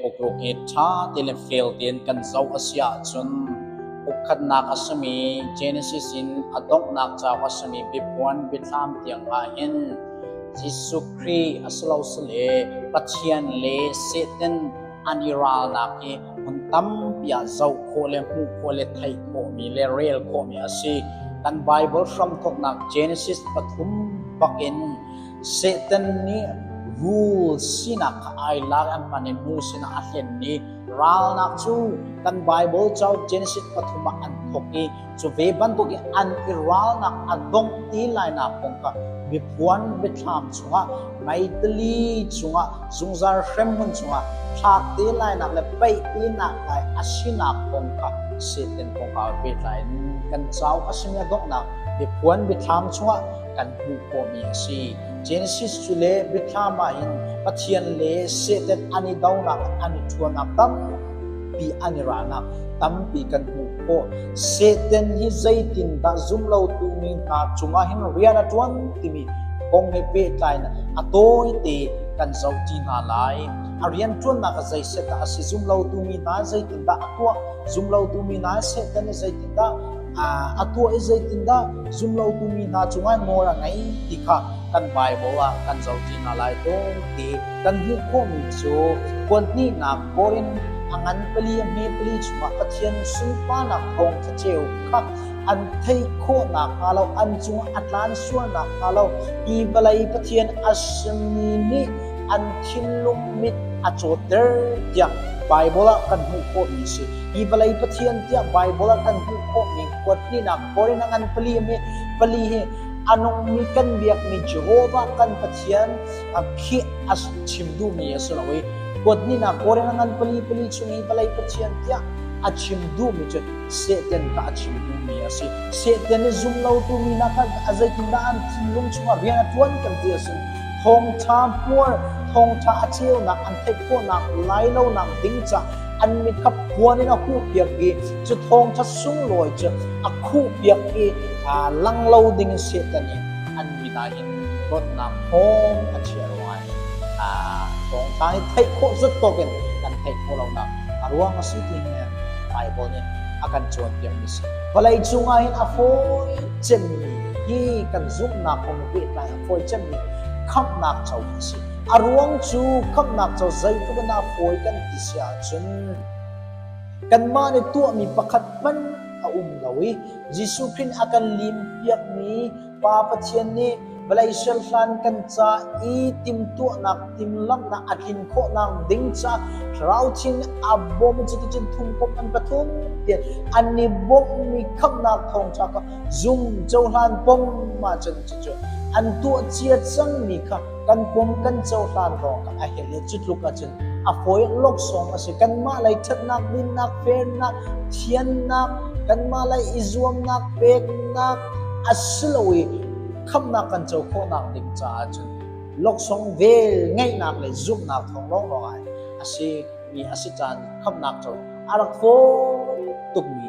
Ukruk hi ṭha tein fail tein kan zoh a si ahcun ukkhatnak a simi Genesis in a donghnak cauk a simi biapuan biathlam tiang ahhin Jesuh Khrih asilosile Pathian le Satan an i ralnak hi hmun tampi ah zoh khawh le hmuh khawh le theih khawhmi le rel khawhmi a si. Kan Baibal hramthawknak Genesis pathum bakin Satan nih rul sinak kha ai lak i an hman i mul sinah a hlenmi ralnak cu kan Baibal cauk Genesis pathum ah an thawk i cu ve bantuk i an i ralnak a dongh ti lainak kong kha mipuan biathlam chungah meitali chungah zungzal hremhmun chungah thlak te lainak le peih tinak lai a sinak kong kha Satan kong kha pehtlai in kan cauk a simi a donghnak mipuan biathlam chungah kan hmuh khawhmi a si. Genesis cu le biathlam ah hin Pathian le Satan an i donak an i ṭhuanak tampi an i rahnak tampi kan hmuh khawh. Satan hi zeitindah zumlotu mi hna cungah hin rian a ṭuan timi kong he pehtlai in a tawite kan zohṭi hna lai. A rian ṭuannak ah zei set dah a si? Zumlotu mi hna zeitindah a tuah? Zumlotu mi hna Satan hi zeitindah a tuah i zeitindah zumlotu mi hna cungah nawl a ngei ti kha kan Baibal ah kan zohchih hna lai tawn ti kan hmuh khawhmi cu puanhnihnak Korin a ngan pali a hme pali chungah Pathian sunparnak thawngṭha cheu kha an theih khawh nakhnga lo an cungah a tlan sual nakhnga lo hi vawlei Pathian a simi nih an thinlung mit a cawter tiah Baibal ah kan hmuh khawhmi a si. hi vawlei pathian tiah Baibal ah kan hmuh khawhmi kuattinak puar in a ngan pali mi pali hi a nungmi kan biakmi Jehovah kan Pathian a khi a chim duhmi a si lo i kuatninak puar in a ngan pali pali chung hi vawlei pathian tiah a chim duhmi cu Satan kha a chim duhmi a si Satan i zum lotu mi hna kha a zeitindah an thinlung chungah rian a ṭuan kan ti a si thawngṭha puar thawngṭha a cheunak an theih khawhnak lai lonak ding ca an mitap puan in a khuhpiak i cu thawngṭha sunglawi cu a khuhpiak i aa lang lo ding setan in an mit ah hin hlawtnak thawng a chia rua i thawngṭha hi theih khawh zutawk in kan theih khawh lonak a ruang a si ti hi Bible nih a kan cawnpiakmi si vawlei cungah hin a fawi cemmi hi kan zumhnak kong pehtlai a fawi cemmi khamhnak co a si A ruang cu khamhnak cu zeitluk in a fawi kan ti si ahcun kanmah nih tuahmi pakhat hmanh a um lo i Jesuh Khrih nih a kan limpiakmi Pa Pathian nih vawlei ser hlan kan ca i timtuahnak timhlamhnak a tlin khawhnak ding ca thlarau thin a bawm in cuticun thumkomh an pathum tiah an i bawmhmi khamhnak thawngṭha kha zung cohlan pom ahcun cucu an tuah cia cangmi kha kan pum kan cohlan lawngah a hel i cutluk ahcun a fawi loksawng a si kanmah lei ṭhatnak dinnak vennak thiannak kanmah lei i zuamnak peknak a si lo i khamnak kan co khawhnak ding caah cun loksawng vel ngeihnak le zumhnak thawng lawnglawng ah a si mi a si caan khamnak cu a rak fawi tukmi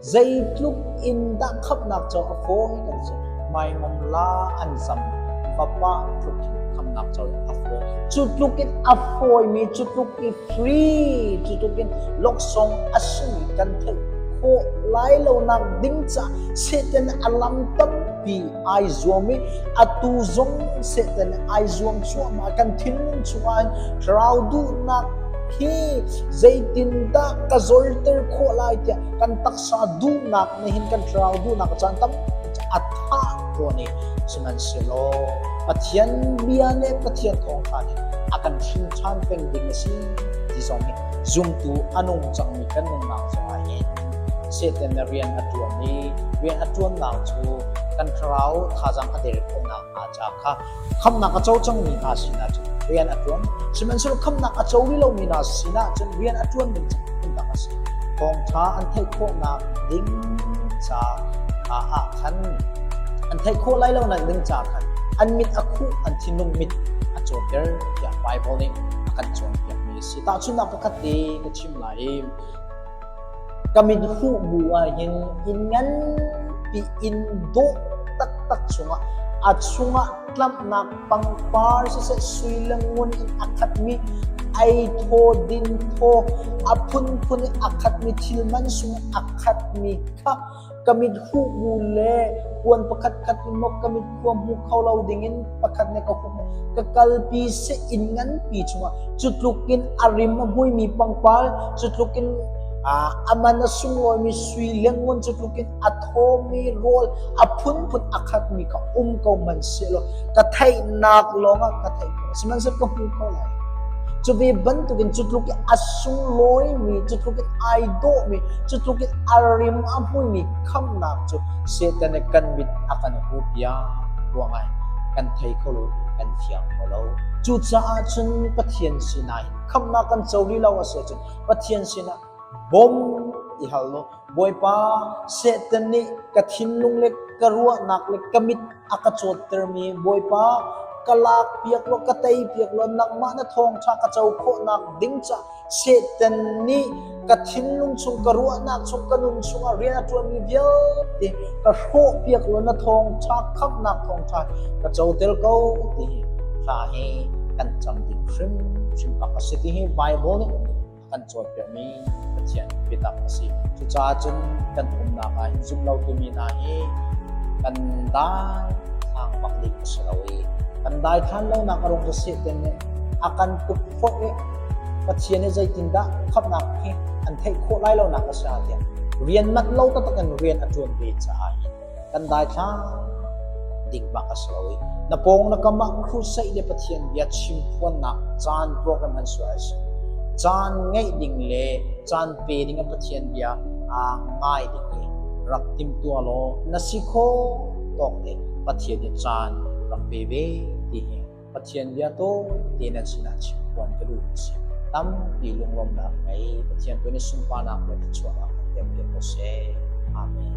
Zeitluk in dah khamhnak cu a fawi kan si. Maimom la an sam, fapa tluk in khamhnak cu a fawi. Cu tluk in a fawimi, cu tluk i free, cu tluk in laksawng a simi kan theih khawh lai lonak ding caah Satan a lam tampi ai zuam i atu zong Satan ai zuam cuahmah kan thin chungah thlarau duhnak hi zeitindah ka zolter khawh lai tiah kan taksa duhnak nihin kan thlarau duhnak caan tam a tha tawn i sihmanhsehlaw Pathian bia le Pathian thawngtha nih a kan hrinthan peng ding a si ti zong hi zumtu a nung cangmi kan nunnak zong ah hin sehten le rian a ṭuan i rian a ṭuannak cu kan thlarau thazaang a der khawhnak hnga caah kha khamhnak a co cangmi hna sinah cun rian a ṭuan sihmanhsehlaw khamhnak a co rih lomi hna sinah cun rian a ṭuan ding cang phundak a si thawngṭha an theih khawhnak ding ca ah khan an theih khawh lai lonak ding ca khan an mit a khuh an thinlung mit a cawter tiah Baibal nih a kan cawnpiakmi a si tahchunhnak pakhat ti ka chim lai ka min huh bu ahhin inn nganpi in dawh taktak chungah a chungah tlamhnak pangpar siseh sui le ngun in a khatmi ei thaw din thaw a phunphun in a khatmi thil mansung a khatmi kha ka mit hruh bul le puan pakhatkhat in maw ka mit khua hmu kho lo dingin pakhat ne ka hmuh ka kalpi si inn nganpi chungah cutlukin a rim a hmuimi pangpar cutlukin a man a sunglawimi sui lengngon cutlukin a thawmi rawl a phunphun a khatmi ka um ko man sehlaw ka theihnak lawngah ka theih ko sihmanhsehlaw ka hmuh ko lai. Cu ve bantukin cu tluk in a sunglawimi, cu tluk in ai dawhmi, cu tluk in a rim a hmuimi khamnak cu Satan nih kan mit a kan huhpiak ruang ai kan thei kho lo, kan thiang kho lo. Cucaah cun Pathian sinah khamnak kan co rih lo a si ahcun Pathian sinah bawm i hal law Bawipa, Satan nih ka thinlung le ka ruahnak le ka mit a ka cawttermi Bawipa ka lakpiak law ka teipiak law nangmah na thawngṭha ka co khawhnak ding cah Satan nih ka thinlung chung ka ruahnak chung ka nun chungah rian a ṭuanmi vialte ka hrawhpiak law na thawngṭha khamhnak thawngṭha ka coter ko ti hi hla hi kan cam ding hrimhrim bak a si ti hi Bible nih an cawnpiakmi Pathian biatak a si. Cucaah cun kan umnak ah hin zumh lo timi hna hi kan daithlang bak ding a si lo i kan daithlan lonak a rung se ten nih a kan tukforh i Pathian nih zeitindah khamnak hi an theih khawh lai lonak a si ah tiah rian mat lo taktak in rian a ṭuan ve caah Kan daithlang ding bak a si lo i na pawng na kam ah crusade le Pathian bia chim phuannak caan program an sual si. Caan ngeih ding le caan pe ding ah Pathian bia aa ngai ding hi rak timtua law na si kho tawk te Pathian nih caan rak pe ve ti hi Pathian bia tawi te nan sinah chim puan ka duh a si. Tampi lunglawmnak ngei Pathian tu na sunparnak le thluachuahnak kan pek ko seh. Amen.